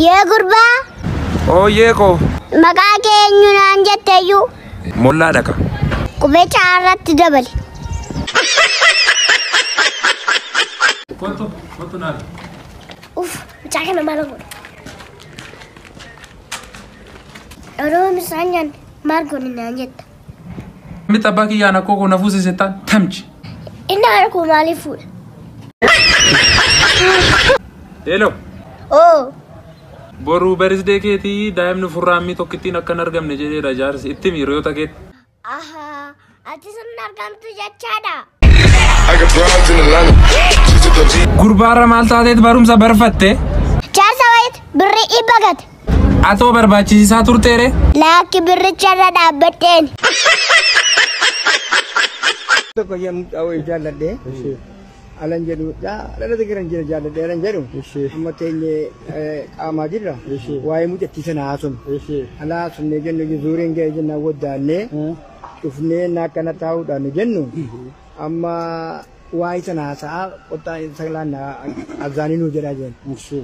Yee gurbaa Ooyyee koo. maqaa kee eenyu naan jetteeyyuu Mollaa dhaqa. qubee caa irratti dabali. Kottu kottu naaf. Uff mucaa kana maal godhe? Yeroo bisaan nyaanne maal godhe naan jetta? Mitti abbaa kiyyaan akkoo koo na fuusise taan tamchi. Inni haadha koo maaliif fuudha? Hello. Oo. Boruu barisdee keetii daa'imni furraammii tokkittiin akka hin argamne jedheera jaarsi itti miiriyoota keetti. Ahaa. Ati sun hin argamtu jechaadha. I got broads in Atlanta. Just at the V. Gurbaarra maal taateet barumsa barfatte? Jaarsa wayiit birrii dhibba gate. Atoo barbaachisisaa turteere? Laakki birricha irra dhaabbadheen. tokko jedhamu dhaawee jaalladhe alan jedhu jaalala tigiran jira jaalladhe alan jedhu amma teenye qaamaa jirra waa'ee mucattii sana haasofne alaa haasofne jennu zuuriin ga'e jennaan waddaannee dhufnee naakana taa'uudhaan jennu amma waa'ee sana haasa'aa qottaa saglaan azaanii nuu jedhaa jenna.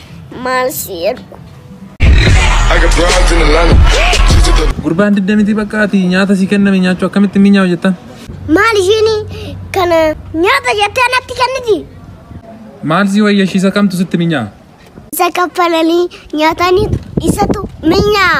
maal si ergu. Gurbaan didda miti bakka ati nyaata si kenname nyaachuu akkamitti hin minyaawu jettan? Maal ishiin kana nyaata jettee natti kenniti? Maal si wayya ishii isa kamtu sitti minyaa? Isa kaffalanii nyaatanii isatu minyaa.